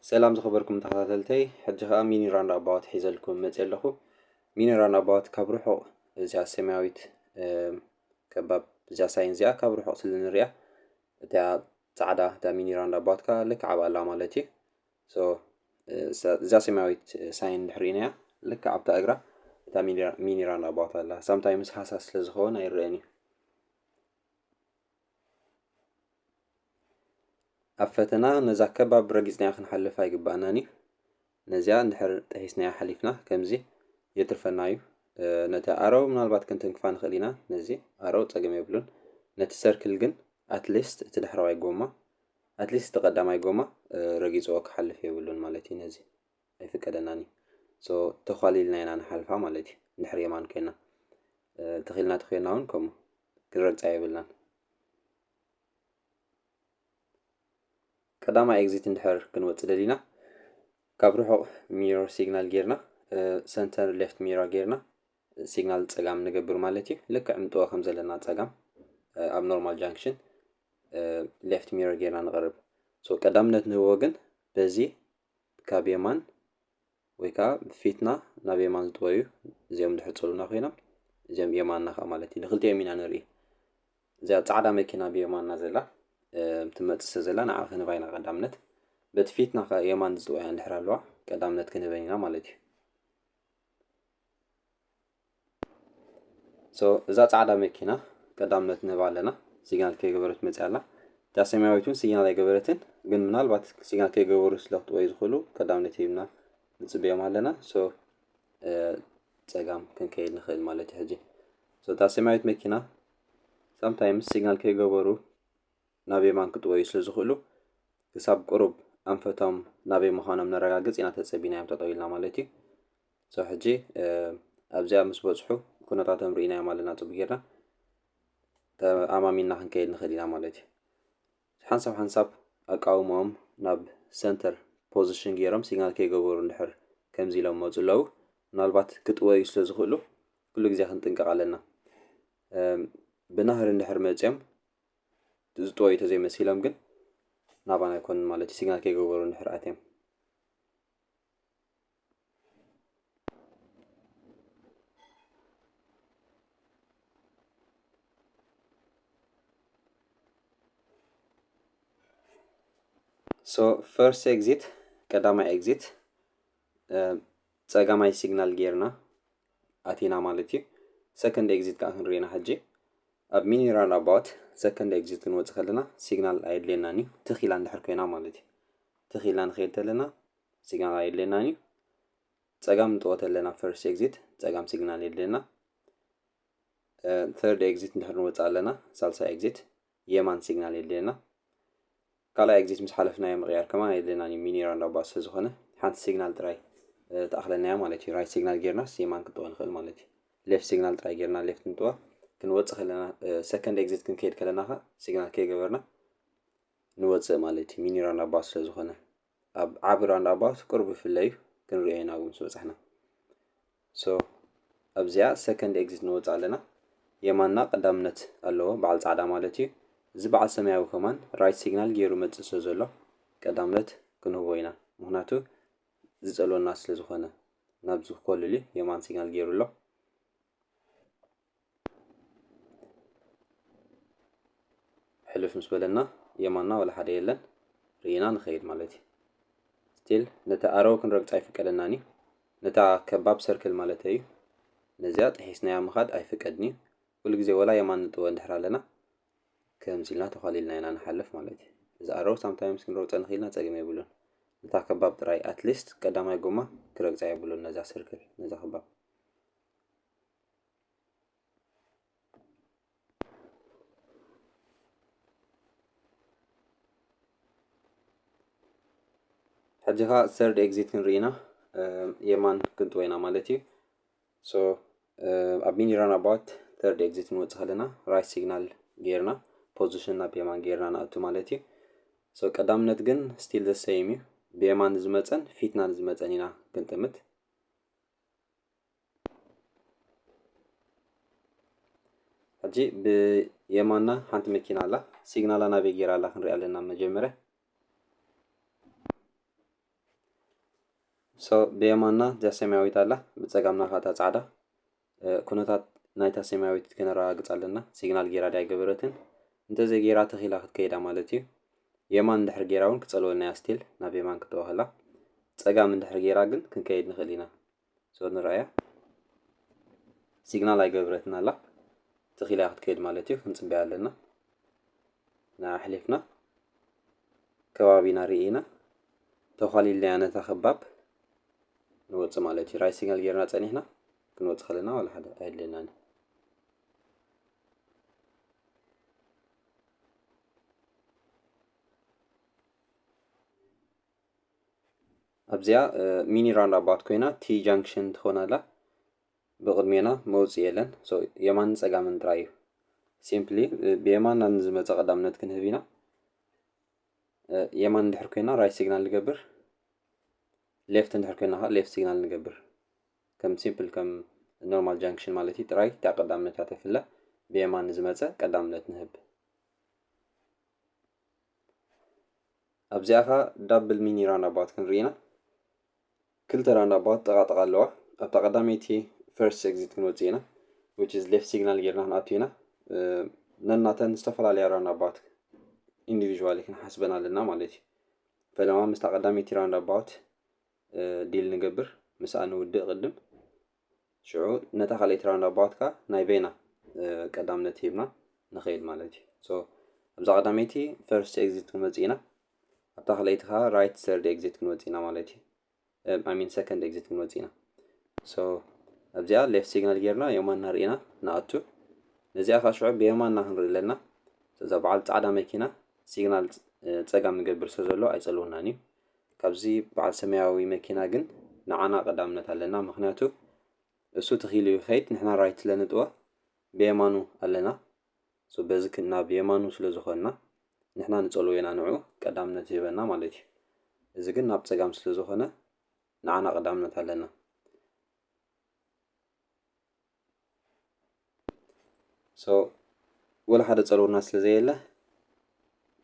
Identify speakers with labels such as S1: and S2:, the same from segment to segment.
S1: ሰላም ዝኸበርኩም ተኸታተልተይ ሕጂ ከዓ ሚኒ ራንድ ኣባዋት ሒዘልኩም መፅ ኣለኹ ሚኒ ራንድ ኣባዋት ካብ ርሑቕ እዚኣ ሰማያዊት ከባብ እዚኣ ሳይን እዚኣ ካብ ርሑቕ ስለ ንሪኣ እታ ፃዕዳ እታ ሚኒ ራንድ ኣባዋት ከዓ ልክዕ ኣብኣላ ማለት እዩ ሶ እዛ ሰማያዊት ሳይን እንድሕር ሪኢናያ ልክዕ ኣብታ እግራ እታ ሚኒራል ኣባውት ኣላ ሳምታይምስ ሃሳስ ስለ ዝኸውን ኣይረአን እዩ ኣብ ፈተና ነዛ ከባብ ረጊፅናያ ክንሓልፍ ኣይግባእናን እዩ ነዚኣ እንድሕር ጥሒስናያ ሓሊፍና ከምዚ የትርፈና እዩ ነቲ ኣረው ምናልባት ክንትንክፋ ንኽእል ኢና ነዚ ኣረው ፀገም የብሉን ነቲ ሰርክል ግን ኣትሊስት እቲ ድሕረዋይ ጎማ ኣትሊስት እቲ ቀዳማይ ጎማ ረጊጽዎ ክሓልፍ የብሉን ማለት እዩ ነዚ ኣይፍቀደናን እዩ ሶ ተዃሊልና ኢና ንሓልፋ ማለት እዩ እንድሕር የማን ኮይና ተኺልና ተኮይና እውን ከምኡ ክንረግጻ የብልናን ቀዳማይ ኤግዚት እንድሕር ክንወጽእ ደሊና ካብ ርሑቕ ሚሮ ሲግናል ጌርና ሰንተር ሌፍት ሚራ ጌርና ሲግናል ፀጋም ንገብር ማለት እዩ ልክዕ ምጥወ ከም ዘለና ፀጋም ኣብ ኖርማል ጃንክሽን ሌፍት ሚረር ጌርና ንቕርብ ሶ ቀዳምነት ንህቦ ግን በዚ ካብ የማን ወይ ከዓ ፊትና ናብ የማን ዝጥወዩ እዚኦም ዝሕፅሩና ኮይኖም እዚኦም የማንና ከዓ ማለት እዩ ንክልቲኦም ኢና ንርኢ እዚኣ ፃዕዳ መኪና ብየማንና ዘላ ትመፅእ ስለ ዘላ ንዓ ክንህባ ኢና ቀዳምነት በቲ ፊትና ከዓ የማን ዝጥወያ እንድሕር ኣለዋ ቀዳምነት ክንህበን ኢና ማለት እዩ ሶ እዛ ጻዕዳ መኪና ቀዳምነት ንህባ ኣለና። ሲግናል ከይገበረት መፅያ ኣላ። እታ ሰማያዊት እውን ሲግናል ኣይገበረትን፣ ግን ምናልባት ሲግናል ከይገበሩ ስለ ክጥወዩ ዝኽእሉ ቀዳምነት ሂብና ንፅበዮም ኣለና። ሶ ፀጋም ክንከይድ ንኽእል ማለት እዩ ሕጂ። ሶ እታ ሰማያዊት መኪና ሳምታይምስ ሲግናል ከይገበሩ ናብ የማን ክጥወዩ ስለ ዝኽእሉ ክሳብ ቁሩብ ኣንፈቶም ናበይ ምዃኖም ነረጋግፅ ኢና ተፀቢናዮም ጠጠው ኢልና ማለት እዩ። ክሳብ ሕጂ ኣብዚኣ ምስ በጽሑ ኩነታቶም ርኢናዮም ኣለና ጽቡቕ ጌርና ተኣማሚንና ክንከይድ ንኽእል ኢና ማለት እዩ ሓንሳብ ሓንሳብ ኣቃውሞኦም ናብ ሰንተር ፖዚሽን ገይሮም ሲግናል ከይገበሩ እንድሕር ከምዚ ኢሎም መፁ ኣለዉ ምናልባት ክጥወዩ ስለ ዝኽእሉ ኩሉ ግዜ ክንጥንቀቕ ኣለና ብናህሪ እንድሕር መፅኦም ዝጥወዩ ተዘይመሲሎም ግን ናባና ኣይኮኑን ማለት እዩ ሲግናል ከይገበሩ እንድሕር ኣትዮም ሶ ፈርስት ኤግዚት ቀዳማይ ኤግዚት ፀጋማይ ሲግናል ጌርና ኣቲና ማለት እዩ ሰከንድ ኤግዚት ከዓ ክንሪና ሕጂ ኣብ ሚኒራል ኣባውት ሰከንድ ኤግዚት ክንወፅእ ከለና ሲግናል ኣየድልየናን እዩ ትኽ ኢላ እንድሕር ኮይና ማለት እዩ ትኽ ኢልና ንኸይድ ተለና ሲግናል ኣየድልየናን እዩ ፀጋም ንጠወት ኣለና ፈርስት ኤግዚት ፀጋም ሲግናል የድልየና ተርድ ኤግዚት እንድሕር ንወፅእ ኣለና ሳልሳይ ኤግዚት የማን ሲግናል የድልየና ካልኣይ ኤግዚት ምስ ሓለፍናዮ ምቕያር ከማ የድልየናን እዩ ሚኒ ራንዳባ ስለዝኾነ ሓንቲ ሲግናል ጥራይ ተኣኽለና እያ ማለት እዩ ራይት ሲግናል ጌርናስ የማን ክንጥወ ንኽእል ማለት እዩ ሌፍት ሲግናል ጥራይ ጌርና ሌፍት ንጥወ ክንወፅእ ከለና ሰከንድ ኤግዚት ክንከይድ ከለና ኸ ሲግናል ከይገበርና ንወፅእ ማለት እዩ ሚኒ ራንዳባ ስለዝኾነ ኣብ ዓቢ ራውንዳባውት ቅርብ ይፍለ እዩ ክንሪኦ ኢና እውን ዝበጻሕና ሶ ኣብዚኣ ሰከንድ ኤግዚት ንወጽእ ኣለና የማንና ቀዳምነት ኣለዎ በዓል ጻዕዳ ማለት እዩ እዚ በዓል ሰማያዊ ከማን ራይት ሲግናል ገይሩ መጽእ ስለ ዘሎ ቀዳምነት ክንህቦ ኢና ምክንያቱ ዝጸልወና ስለ ዝኾነ ናብዚ ኮልል የማን ሲግናል ገይሩ ኣሎ ሕልፍ ምስ በለና የማና ዋላ ሓደ የለን ርኢና ንኸይድ ማለት እዩ ስቲል ነቲ ኣረው ክንረግፅ ኣይፍቀደናን እዩ ነታ ከባብ ሰርክል ማለት እዩ ነዚያ ጥሒስናያ ምኻድ ኣይፍቀድን እዩ ኩሉ ግዜ ወላ የማን ንጥወ እንድሕር ኣለና ከምዚ ኢልና ተዃሊልና ኢና ንሓልፍ ማለት እዩ እዚ ኣረው ሳምታይምስ ክንረግፀ ንኽኢልና ፀገም የብሉን ነታ ከባብ ጥራይ ኣትሊስት ቀዳማይ ጎማ ክረግፃ የብሉን ነዛ ሰርክል ነዛ ከባብ ሕጂ ከ ሰርድ ኤግዚት ክንርኢ ኢና የማን ክንጥወ ኢና ማለት እዩ ሶ ኣብ ሚኒ ራን ኣባውት ሰርድ ኤግዚት ንወፅእ ከለና ራይት ሲግናል ጌርና ፖዚሽን ናብ የማን ጌርና ንኣቱ ማለት እዩ ሶ ቀዳምነት ግን ስቲል ዘሰይም እዩ ብየማን ዝመፀን ፊትና ንዝመፀን ኢና ክንጥምት ሕጂ ብየማና ሓንቲ መኪና ኣላ ሲግናላ ናበይ ጌራ ኣላ ክንሪኣ ኣለና መጀመርያ ሶ ብየማና እዛ ሰማያዊት ኣላ ብፀጋምና ካታ ፃዕዳ ኩነታት ናይታ ሰማያዊት ክነረጋግፅ ኣለና ሲግናል ጌራ ድያ ገበረትን እንተዘይጌራ ተኺላ ክትከይዳ ማለት እዩ የማን እንድሕር ጌራ እውን ክፀልወልና እያ ስቲል ናብ የማን ክትወሃላ ፀጋም እንድሕር ጌራ ግን ክንከይድ ንኽእል ኢና ሶ ንርኣያ ሲግናል ኣይገበረትን ኣላ ትኺል እያ ክትከይድ ማለት እዩ ክንፅበያ ኣለና ንኣሕሊፍና ከባቢና ርኢና ተዃሊልና እያ ነታ ከባብ ንወፅእ ማለት እዩ ራይ ሲግናል ጌርና ፀኒሕና ክንወፅእ ከለና ዋላ ሓደ ኣየድለናን ኣብዚኣ ሚኒ ራንድ ኣባት ኮይና ቲ ጃንክሽን ትኾን ኣላ ብቕድሜና መውፅ የለን የማንን ፀጋምን ጥራይ እዩ ሲምፕሊ ብየማንና ንዝመፀ ቀዳምነት ክንህብ ኢና የማን እንድሕር ኮይና ራይት ሲግናል ንገብር ሌፍት እንድሕር ኮይና ከዓ ሌፍት ሲግናል ንገብር ከም ሲምፕል ከም ኖርማል ጃንክሽን ማለት እዩ ጥራይ እታ ቀዳምነት እያ ተፍለ ብየማን ንዝመፀ ቀዳምነት ንህብ ኣብዚኣ ከ ዳብል ሚኒ ራንዳባት ክንርኢ ኢና ክልተ ራንዳባት ጥቃ ጥቃ ኣለዋ ኣብታ ቀዳመይቲ ፈርስት ኤግዚት ክንወፅእ ኢና which is ሌፍት ሲግናል ጌርና ክንኣቱ ኢና ነናተን ዝተፈላለያ ራንዳባት ኢንዲቪዥዋሊ ክንሓስበን ኣለና ማለት እዩ ፈለማ ምስታ ቀዳመይቲ ራንዳባት ዲል ንገብር ምስኣ ንውድእ ቅድም ሽዑ ነታ ካልኣይቲ ራውንድ ኣባውትካ ናይ በይና ቀዳምነት ሂብና ንኸይድ ማለት እዩ ሶ ኣብዛ ቀዳመይቲ ፈርስት ኤግዚት ክንወፅእ ኢና ኣብታ ካልኣይቲ ከዓ ራይት ሰርድ ኤግዚት ክንወፅእ ኢና ማለት እዩ ኣሚን ሰከንድ ኤግዚት ክንወፅእ ኢና ሶ ኣብዚኣ ሌፍት ሲግናል ጌርና የማንና ርኢና ንኣቱ ነዚኣ ከዓ ሽዑ ብየማንና ክንርኢ ኣለና እዛ በዓል ፃዕዳ መኪና ሲግናል ፀጋም ንገብር ስለ ዘሎ ኣይፀልውናን እዩ ካብዚ በዓል ሰማያዊ መኪና ግን ንዓና ቀዳምነት ኣለና ምክንያቱ እሱ ትኪሉ ይከይድ ንሕና ራይት ስለ ንጥወ ብየማኑ ኣለና so በዚ ክና ብየማኑ ስለ ዝኮና ንሕና ንጸልዎ ኢና ንዑ ቀዳምነት ዝህበና ማለት እዩ እዚ ግን ናብ ጸጋም ስለ ዝኮነ ንዓና ቀዳምነት ኣለና ሶ ወላ ሓደ ጸርውና ስለ ዘየለ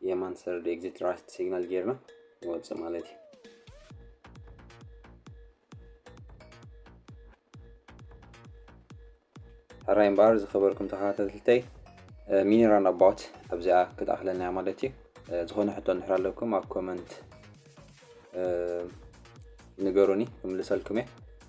S1: የማን ሰርድ ኤግዚት ራይት ሲግናል ጌርና ንወፅእ ማለት እዩ ሕራይ እምበኣር ዝኸበርኩም ተኸታተልተይ ሚኒራን ኣባውት ኣብዚኣ ክትኣኽለና እያ ማለት እዩ ዝኾነ ሕቶ እንድሕር ኣለኩም ኣብ ኮመንት ንገሩኒ ክምልሰልኩም እየ